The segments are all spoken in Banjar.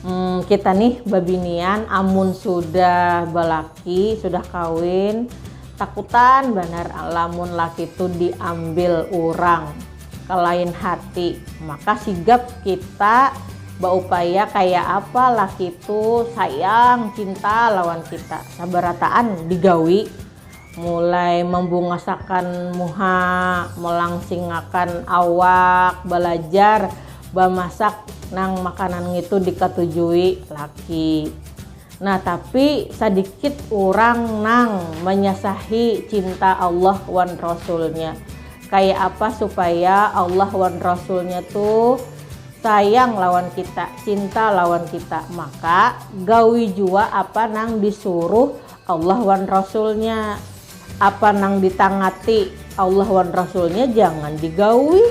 Hmm, kita nih babinian amun sudah balaki, sudah kawin, takutan banar lamun laki tu diambil urang kalain hati. Maka sigap kita baupaya kaya apa laki tu sayang, cinta lawan kita. Sabarataan digawi, Mulai mambungasakan muha, malangsingakan awak, balajar bamasak nang makanan ngitu dikatujui laki. Nah tapi sadikit urang nang manyasahi cinta Allah wan Rasulnya. Kaya apa supaya Allah wan Rasulnya tu sayang lawan kita, cinta lawan kita. Maka gawi jua apa nang disuruh Allah wan Rasulnya, apa nang ditangati Allah wan Rasulnya jangan digaui,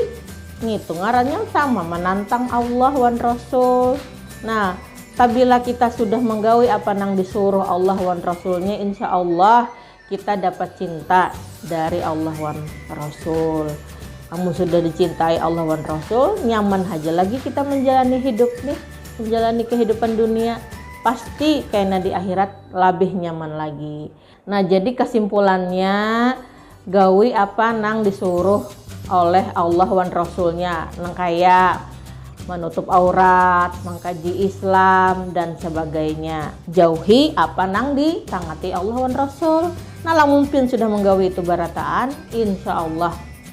ngitu ngarannya sama manantang Allah wan Rasul. Nah, pabila kita sudah manggaui apa nang disuruh Allah wan Rasulnya insya Allah kita dapat cinta dari Allah wan Rasul. Amun sudah dicintai Allah wan Rasul, nyaman haja lagi kita manjalani hidup nih, manjalani kahidupan dunia, pasti kena di akhirat. labih nyaman lagi nah jadi kesimpulannya gawi apa nang disuruh oleh Allah wan Rasulnya nang kaya menutup aurat, mengkaji Islam dan sebagainya. Jauhi apa nang ditangati Allah wan Rasul. Nah lamun pin sudah menggawi itu barataan, insya Allah